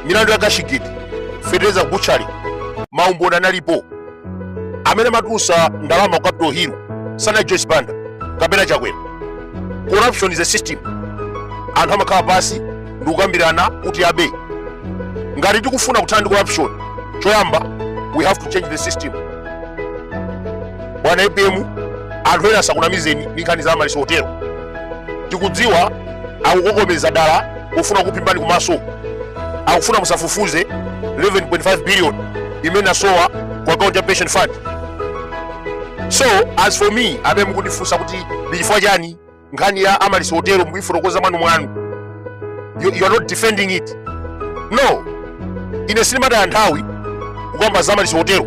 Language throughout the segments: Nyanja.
milandu ya Cashgate fetereza butchery maumboni analipo amene amatulusa ndalama ku capital hill sana joyce banda kapena chakwera corruption is a system anthu amakhala pasi ndi kukambirana kuti abe ngati tikufuna kuthana ndi corruption choyamba we have to change the system bwana apm anthu ena asakunamizeni ndi nkhani za Amaryllis hotelo tikudziwa akukokomeza dala kufuna kukuphimbani kumaso akufuna musafufuze 11.5 billion imene asowa ku akaunti ya pension fund so as for me amene mukundifunsa kuti ndi chifukwa chani nkhani ya Amaryllis hotelo mukuifotokoza mwanu mwanu you, you are not defending it no ine sindimataya nthawi kukamba za Amaryllis hotelo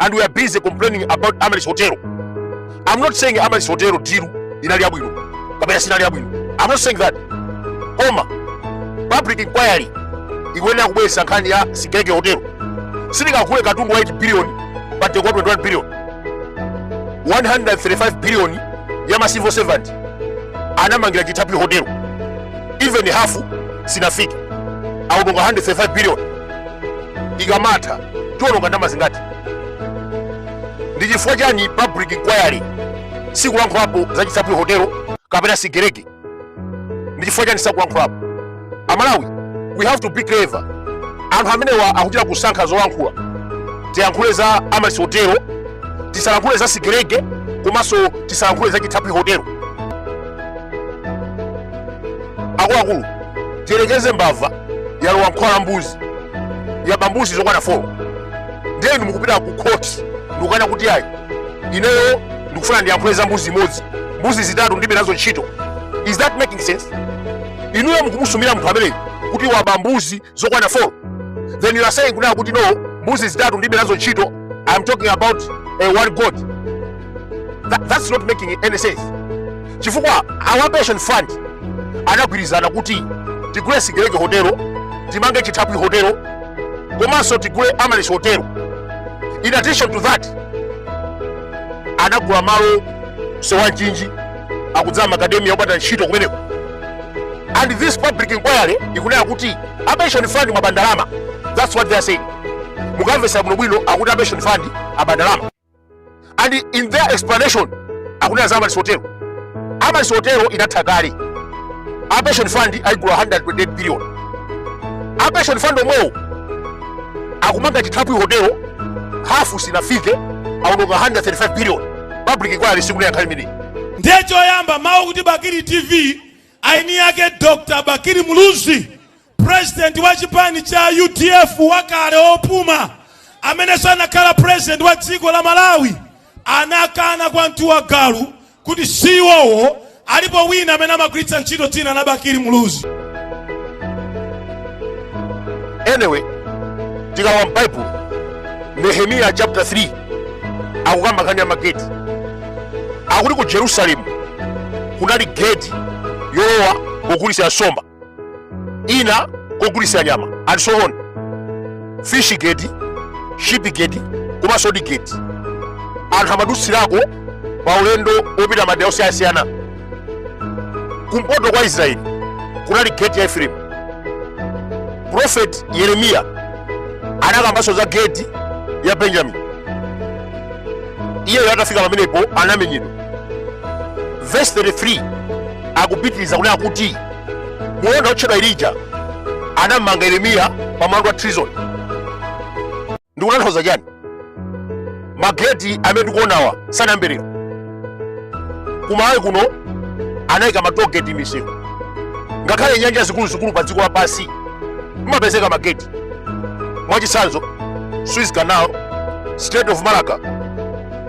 and we are busy complaining about Amaryllis Hotel. I'm not saying Amaryllis Hotel deal inali yabwino kapena sinali yabwino. I'm not saying that. Koma public inquiry ikuyenera kubweretsa nkhani ya Sigelege Hotel. Sitikagule katundu wa 8 billion but they got 21 billion. 135 billion ya ma civil servant anamangira Chithaphwi Hotel. Even half sinafike. Aononga 135 billion. ikamatha tiwononga ndalama zingati ndi chifukwa chani public inquiry sikulankhulapo za chithaphwi hotelo kapena Sigelege ndi chifukwa chani sakulankhulapo amalawi we have to be clever anthu amenewa akuchita kusankha zolankhula tiyankhule za Amaryllis hotelo tisalankhule za Sigelege komanso tisalankhule za chithaphwi hotelo akuluakulu tiyerekeze mbava yalowa mkhola la mbuzi yaba mbuzi zokwana 4 ndiye inu mukupita ku khoti ndikukana kuti ayi ineyo ndikufuna ndiyankhule za mbuzi imodzi mbuzi zitatu ndibe nazo ntchito is that making sense inuyo mukumusumira munthu ameneyo kuti waba mbuzi zokwana 4 then you are saying kunena kuti no mbuzi zitatu ndibe nazo ntchito i am talking about a one goat That, that's not making any sense chifukwa a pension fund anagwirizana kuti tigule Sigelege hotelo timange chithaphwi hotelo komanso tigule Amaryllis hotelo in addition to that anagula malo sewanjinji akudzala makademiya opanda ntchito kumeneko and this public inquiry ikunena kuti apension fund mwaba ndalama that's what they are saying mukamvesa bwinobwino akuti apension fund aba ndalama and in their explanation akunena za Amaryllis hotelo Amaryllis hotelo inatha kale a pension fund ayigula 128 billion a pension fund omwewo akumanga chithaphwi hotelo hafu sinafike aononga 135 billion public inquiry sikunena nkhani imeneyi ndiye choyamba mawu kuti bakili tv aini yake dr bakili muluzi President wa chipani cha UDF wakale opuma amenenso anakhala president wa dziko la Malawi anakana kwa mtu wa galu kuti si iwowo alipo wina amene amagwiritsa ntchito dzina la Bakili Muluzi. Anyway, tikalowa m'Bible Nehemiya chapter 3 akukamba nkhani ya mageti akuti ku Jerusalemu kunali geti yolowa kogulitsa nsomba ina kogulitsa nyama and so on fish gate sheep gate komanso ndi gate anthu amadutsirako pa ulendo wopita madera osiyanasiyana kumpoto kwa israeli kunali gate ya efraimu profeti yeremiya anakambanso za gate ya benjamini iyeyo atafika pamenepo anamenyedwa verse 33 akupitiriza kunena kuti mlonda wotchedwa irija anammanga yeremiya pa mlandu wa treason ndikutanthauza chani mageti amene tikuonawa sanayambe lero ku malawi kuno anayika ma toll gate m'misewu ngakhale nyanja zikuluzikulu pa dziko lapansi mumapezeka mageti mwachitsanzo suez canal strait of malacca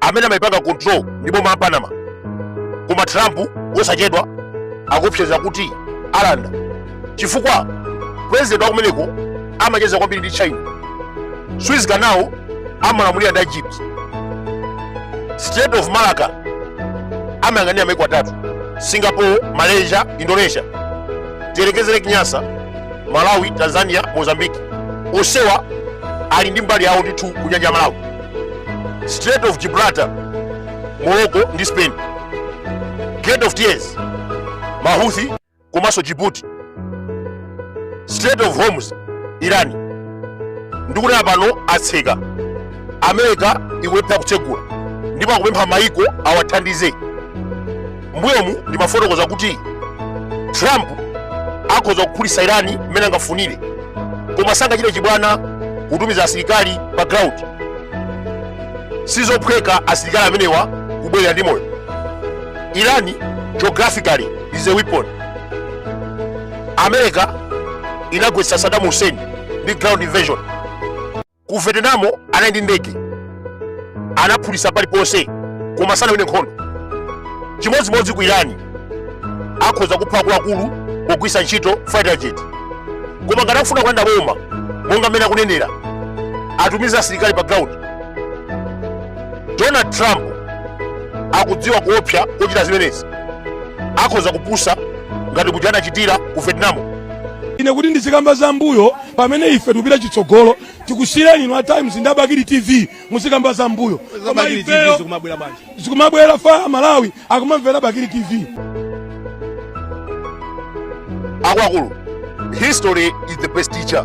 amene amayipanga control ndi boma la panama koma trump wosachedwa akuopseza kuti alanda chifukwa president wa kumeneko amacheza kwambiri ndi china suez canal amalamulira ndi egypt strait of malacca amayang'anira maiko atatu singapore malaysia indonesia tiyerekezere lake nyasa malawi tanzania mozambique onsewa ali ndi mbali yawo ndithu kunyanja ya malawi Strait of Gibraltar, Morocco ndi Spain, Gate of Tears, Mahuthi komanso Djibouti, Strait of Hormuz, Iran. Ndikunena pano atseka America ikulephera kutsegula ndipo akupempha maiko awathandize. mbuyomu ndimafotokoza kuti trump akhoza kuphulitsa irani mmene angafunire koma sangachite chibwana kutumiza asilikali pa ground sizophweka asilikali amenewa kubwerera ndi moyo irani geographically is a weapon america inagwetsa saddam hussein ndi ground invasion ku vietnam anali ndi ndege anaphulisa paliponse koma sanawine nkhondo chimodzimodzi ku iran akhoza kupha akuluakulu pogwisa ntchito fighter jet koma ngati akufuna kulanda boma monga mmene akunenera atumize asilikali pa ground donald trump akudziwa kuopsa kochita zimenezi akhoza kupusa ngati muja anachitira ku vietnam ine kuti ndizikamba za mbuyo pamene ife tikupita chitsogolo tikusiyireni inu a times ndi a bakili tv muzikamba za mbuyo koma ifeyo zikumabwera apa amalawi akumamvera bakili tv akuluakulu history is the best teacher